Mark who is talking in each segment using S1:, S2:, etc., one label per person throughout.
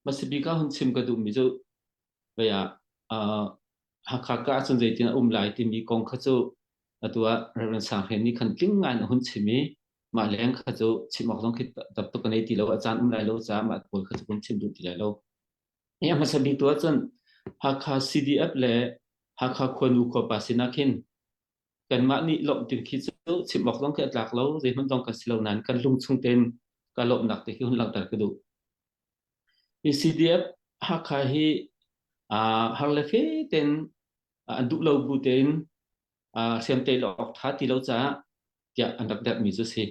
S1: Masabik ah hun chim ka duhmi cu vei ah uh, Hakha ka ahcun zeitin a um lai timi kong kha cu atu ah Reverend Sanghlian nih khan tling ngai in a hun chim i mah leng kha cu chim awk zong khi dap tuk ka nei ti lo a caan um lai lo caah mah pawl kha cu kun chim duh ti lai lo. Ya hmasa bik tu ahcun Hakha CDF le Hakha khuanu khuapa sinah khin Kanmah nih lawmh ti khi cu chim awk zong khi a tlak lo. Zeihmanh zong kan si lo nain kan lungchung tein ka lawmhnak te khi hun langhter ka duh. Hi CDF Hakha hi uh, har le fe ten uh, an duh lo bu tein uh, siam te lo awk tha ti lo caah tiah an rak derh mi cu si.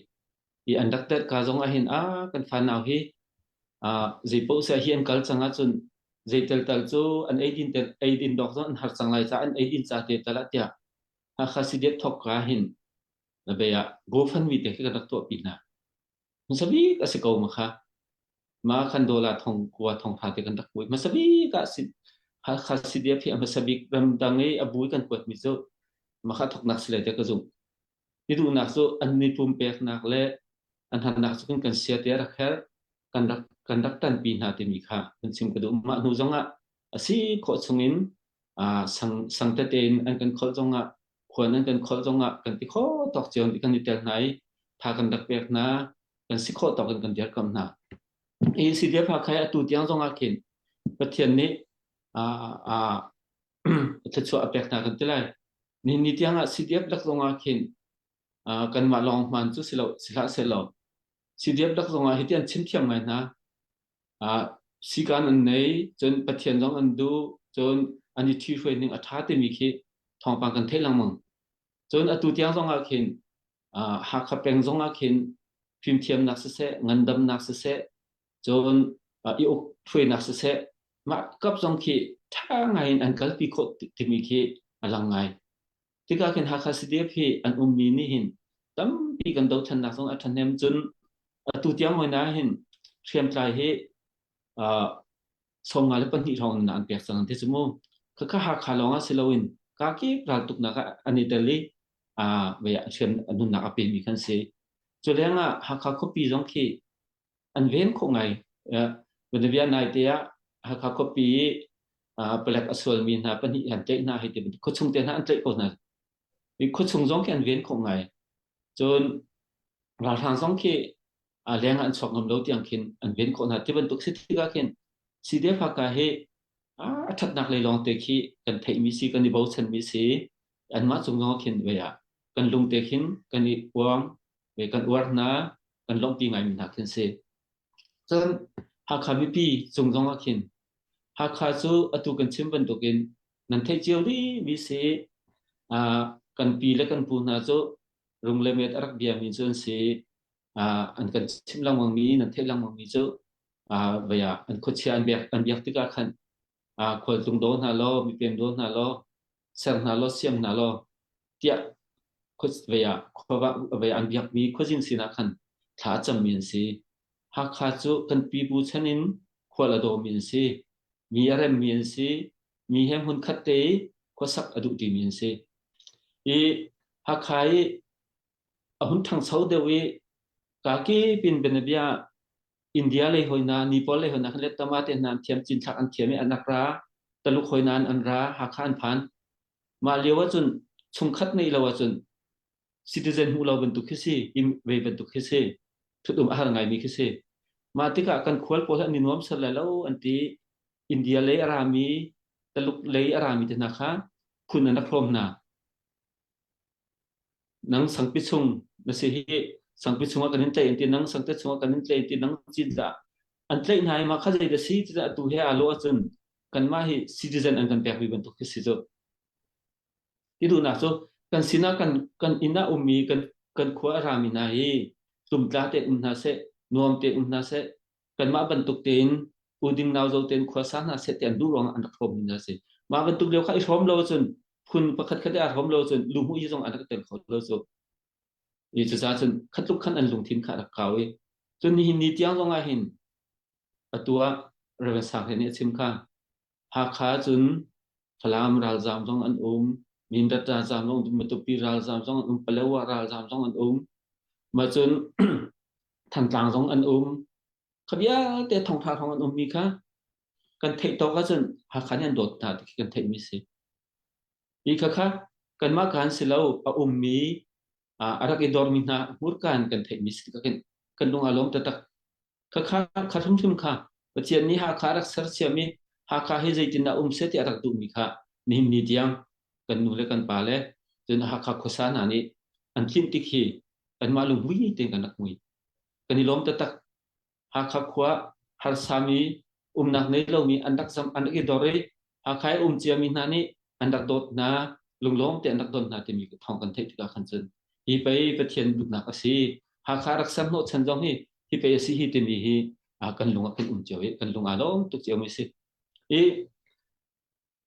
S1: i an rak tet ka zong ahhin ah kan fa nau hi uh, zeipoh sia hi an kal cang ahcun zeital tal cu an eidin tel eidin dok zong an har cang lai ca an eidin ca te tal ah tiah hakha sidiat thok ka hin labe ah GoFundMe te khi kan rak tuah pi hna masabik a si ko ma kha ma khan dola thong kuwa thong tha te kan rak pui masabik a si hakha sidiat hi a masabik ramdang i a bui kan kuat mi cu ma kha thok nak silai te ka zung i duhnak cu an ni pumpeknak le an hatnak cu kan sia te rak herh kan rak kan rak tanpi hna timi kha kan chim ka duh mah hnu zongah a si khawh chungin uh, sang sang tete in an kan khol zongah khuan an kan khol zongah kan ti kho tok cion ti kan i tel hna i tha kan rak pek hna kan si khawh tok in kan dir kam hna i si dia pha khai atu tiang zongah khin pathian nih uh, uh, thluachuah a pek hna kan ti lai. Nihin ni tiangah CDF lak zongah khin uh, kanmah lawng hman cu si lo si hlah se lo CDF lak zongah hi tian chin thiam ngai hna uh, sikan an nei cun pathian zong an du cun an i thi hruai ning a tha timi khi thawngpang kan thei langmang cun atu tiang zongah khin uh, hakha peng zongah khin fimthiamnak siseh ngandamnak siseh cun i uk ṭhuinak siseh mah kap zong khi ṭha ngai in an kalpi khawh timi khi a lang ngai. Tika khin Hakha CDF hi an ummi nih hin tampi kan dothlannak zong a ṭhahnem cun atu tiang hoi na hin hriamtlai hi sawmnga le pahnih hrawng in an pek cang te cu mu khakha Hakha lawng ah si loin kakip raltuknak an i tel i a nunnak a pemi kan si. Cu leng ah Hakha khuapi zong khi an ven khawh ngai. Bolivia naite ah Hakha khuapi i palek a sualmi hna pahnih an tlaih hna hei ti bantuk khuachung te hna an tlaih ko hna. I khuachung zong khi an ven khawh ngai. Cun ralhrang zong khi leng ah an chuak ngam lo tiang khin an ven khawh hna. Ti bantuk si tikah khin CDF Hakha hi a thatnak lei lawng te khi kan theihmi si, kan i bochanmi si, anmah cung zong khin vea kan lung te khin kan i uang, kan uar hna, kan lawmhpi ngaimi hna khi an si. Cun Hakha mipi cung zong ah khin Hakha cu atu kan chim bantukin nan theih cio rihmi si kan pi le kan pu hna cu rung le met a rak biami cu an si an kan chim lengmangmi nan theih lengmangmi cu vaya an khuachia an biak an biak tikah khan ah khualtlung daw hna law mipem daw hna law ser hna law siam hna law tiah vei ah vei an biakmi khuazin sinah khan thla a cammi an si. Hakha cu kan pipu chan in khual a dawmi an si. Mi a remmi an si. Mi he hmun khat te i khuasak a duh timi an si. I Hakha i a hun thangso deuh i kaki pin benabia India lei hoina, Nepal lei hoina khan le tama te hna thiam chin thlak an thiam i anak ra, Taluk hoina an an ra, Hakha an phan. Mah lio ahcun chungkhat nei lo ahcun citizen hmuh lo bantuk khi si, im ve bantuk khi si, thutum a har ngaimi khi si. Mah tikah kan khual pawl hi an i nuam ser lai lo an ti. India lei a rami, Taluk lei a rami te hna kha phun an rak hlawm hna. nang sangpi chung na si hi sangpi chungah kan in tlaih an ti nang sangte chungah kan in tlaih an ti nang cin tah an tlaih hna hi ma kha zei da si tiah atu he alo ahcun kanmah hi citizen an kan pek rih bantuk khi si cu ti duhnak cu kan sinah kan kan inn ah ummi kan kan khua a rami hna hi tumtla te um hna seh nuam te um hna seh Kanmah bantuk tein U Ding Nau Zo tein khuasa hna seh tian duh ruangah an rak hrawmmi hna a si. Mah bantuk lio kha i hrawm lo ahcun phun pakhat khat i aa hrawm lo ahcun luhmuih zong an rak teng kho lo cu. I cucaah cun khatluk khan an lungthin kha a rak kau i cun nihin ni tiang zong ah hin atu ah Reverend Sang Hlen nih a chim kha Hakha cun Falam ralzaam zong an um. Mindat ralzaam zong, Matupi ralzaam zong an um. Palawa ralzaam zong an um. Mah cun Thantlang zong an um. Kha vialte thawngtha thawng an ummi kha kan theih tawk ahcun Hakha nih an dawt hna ti khi kan theihmi si. Hi khakha kanmah kan si lo a ummi ah a rak i dormi hna hmurka in kan theihmi si tilakin kan lung a lawm taktak. Khakha kha hrimhrim kha Pathian nih Hakha rak sersiam i Hakha hi zeitindah um se ti a rak duhmi kha nihin ni tiang kan nu le kan pa le cun Hakha khuasa hna nih an tlinh tik hi anmah lungmui tein kan rak hmui. Kan i lawm taktak. Hakha khua harsami umnak nei lomi an rak zam an rak i dor i Hakha i um ciami hna nih an rak dawt hna lunglawm te an rak don hna timi ka thawng kan theih tikah khan cun hi pei Pathian duhnak a si Hakha rak sam hnawh chan zong hi hi pei a si hi timi hi kan lung ah kan um cio i kan lung aa lawm tuk cio mi si i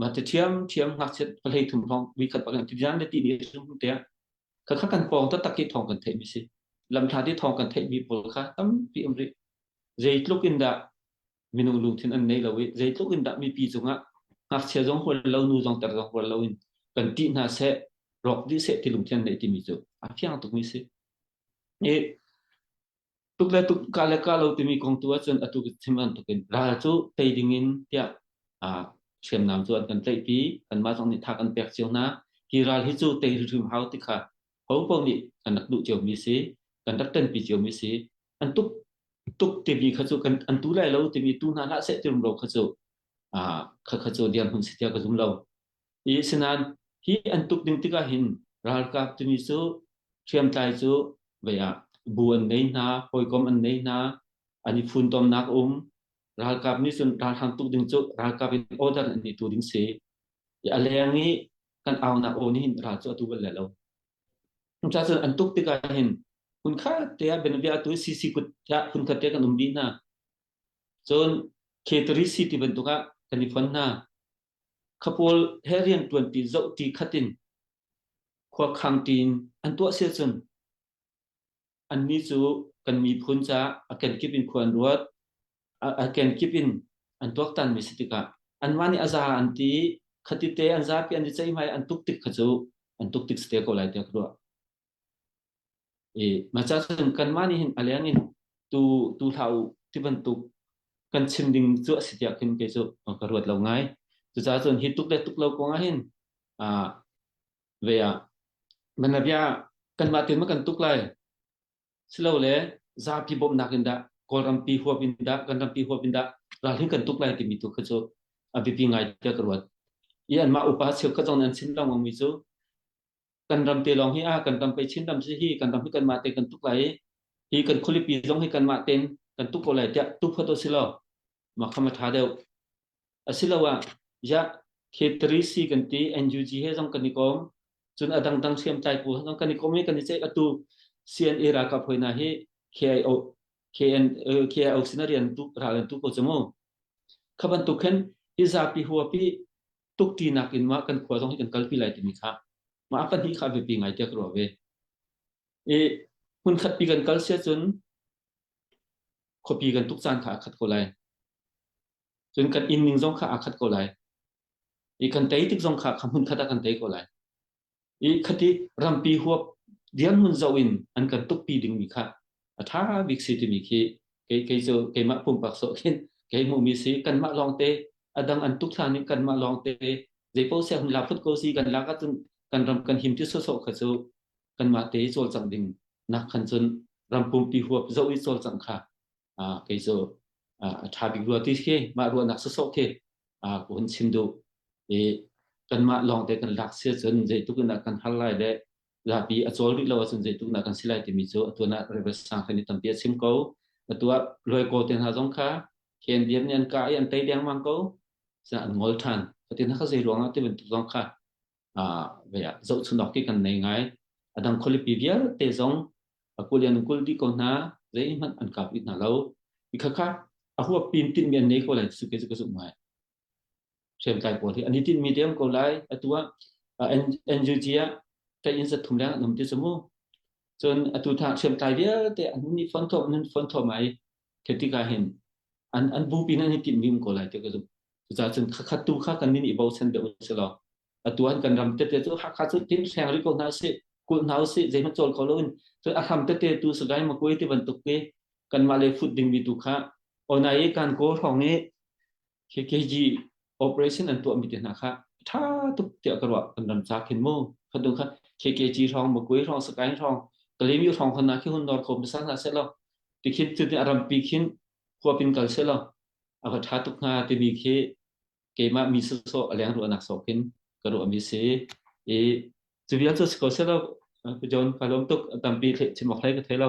S1: Mate ṭhiamṭhiam ngakchiat pahhlei thum hrawng vuikhat bak in tipian le tihni a sung tiah khakha kan pawng taktak hi thawng kan theihmi si. Lamthla ti thawng kan theihmi pawl kha tampi um rih. Zeitluk in dah minung lungthin an nei lo i zeitluk in dah mipi cungah ngakchia zong hual lo, nu zong ter zong hual lo in kan tih hna seh, rawk dih seh ti lungthin an nei timi cu a fiang tukmi si. I tuk le tuk, ka le ka lo timi kong tu ahcun atu chim an tuk in ral cu tei ding in tiah uh, hriamnam cu an kan tlaihpi kanmah zong nih thak an pek cio hna hi ral hi cu tei hrim hau ti kha hong pong nih kan rak duh cio mi si kan rak tanpi cio mi si an tuk tuk timi kha cu kan an tu lai lo timi tu hna hlah seh tirum ro kha cu uh, kha kha cu dir hun si tia ka zum lo i asinain hi an tuk ding tikah hin ralkap tuni cu hriamtlai cu vei ah bu an ngei hna hawikom an ngei hna an i funtomnak um ralkap nih cun ralhrang tuk ding cu ralkap in order an i tu ding si i a leng i kan aunak aw nih hin ral cu atu bal le lo ca cun an tuk tikah hin hun khat te ah benvia tu cc kut ya hun khat te kan um bi hna cun K3 city bantuk ah kan i fon hna khapawl he rian ṭuanṭi zoh ṭi khat in khuakhang tiin an tuah sia cun annih cu kan miphun ca a kenkip in khua an ruat a kenkip in an tuaktan mi si tikah anmah nih a za an ti khati te an zapi an i ceihmai an tuk tik kha cu an tuk tik si te ko lai tiah ka ruah I macha cun kanmah nih hin a leng in tu tu hlah u ti bantuk kan chim ding cu a si tiah khin kei cu ka ruat lo ngai. Cucaah cun hi tuk le tuk lo kong ah hin ah ve ah man le bia kanmah tin ma kan tuk lai silo le zapi bawmhnak in dah Kawlrampi huap in dah kan rampi huap in dah ralhin kan tuk lai timi tu kha cu a biapi ngai tiah ka ruat. I anmah upa cheu ka zong an chim lengmang mi cu kan ram te lawng hi a kan ram pei Chin ram si hi kan ram hi kan mah te kan tuk lai i hi kan khulipi zong hi kan mah ten kan tuk ko lai tiah tu phot silo ma kham tha deuh asilo ah ya K3 C kan ti NUG he zong kan i kom cun adang dang siam tlai pu zong kan i kom i kan i check atu CNA raka phoina hi KIO KN KIO sinarian tu ral tu ko chumu khaban tu khen hi zapi huapi tukṭinak in mah kan khua zong hi kan kalpi lai timi kha mah a pahnih kha biapi ngaite ka ruah ve. I hmunkhatpi kan kal siah cun khuapi kan tuk caan kha a khat ko lai. Cun kan inn ning zong kha aa khat ko lai. I kan tei tik zong kha kha hmunkhat ah kan tei ko lai. i khati rampi huap dirhmun zoh in an kan tukpi dingmi kha a ṭha bik si timi khi kei kei cu keimah pumpak sawh khin kei hmuhmi si kanmah lawngte a dang an tuk hlan in kanmah lawngte zeipaoh sia hun la phut ko si kan lak ahcun kan ram kan him ti sawsawh kha cu kanmah te cawlcangh ding nak khan cun ram pumpi huap zoh i cawlcangh kha kei cu a ṭha bik rua ti khi mah ruahnak sawsawh khi ka hun chim duh i kanmah lawngte kan lak si cun zeitluk in kan har lai le zapi a cawl rih lo ahcun zeitluk na kan si lai timi cu atuan ah Reverend Sanghren i tampi a chim ko atuah luaikaw te hna zong kha khen diam nih an ka i an tei dengmang ko sina an ngol ṭhan fatin haka zei ruangah ti bantuk zong kha zohchunhawk ti kan nei ngai adang khualipi vialte zong akulian kul di ko hna zeihmanh an kap it hna lo ikhakha ahuap pin tin mi an nei ko lai suke suke su mai hrem kai pawl hi ani tin mi dem ko lai atua NUG a ta in sa thum leng nom ti samu cun atu tha hrem kai vialte an ni fon thom nan fon thom ai Khi tikah hin an an bupi nan i tinh dim ko lai ti ka zumh. Cucaah cun khakhat tu kha kan nin i bochan deuh si lo. Atu an kan ram tete cu hakha cu tin seng ri ko hna si, kul hna si, zeihmanh col ko loin cun a hram tete tu sagai ma kuai ti bantuk ke kanmah le fut ding mi tu kha onai i kan ko hrawng i KKG operation an tuahmi te hna kha tha tuk tiah ka ruah an ram ca khin mu khadung kha KKG hrawng Makui hrawng Sakain hrawng Kalemi hrawng khon na khi hun nor kho misa na se lo ti khin tu ni aram pi khin huapin kal se lo aka tha tuk nga ti ni khi keima mi so so aleng ru anak so kin karu ami si e tu bian so ko se lo John Palom tuk tampi che chimok hlai ka thelo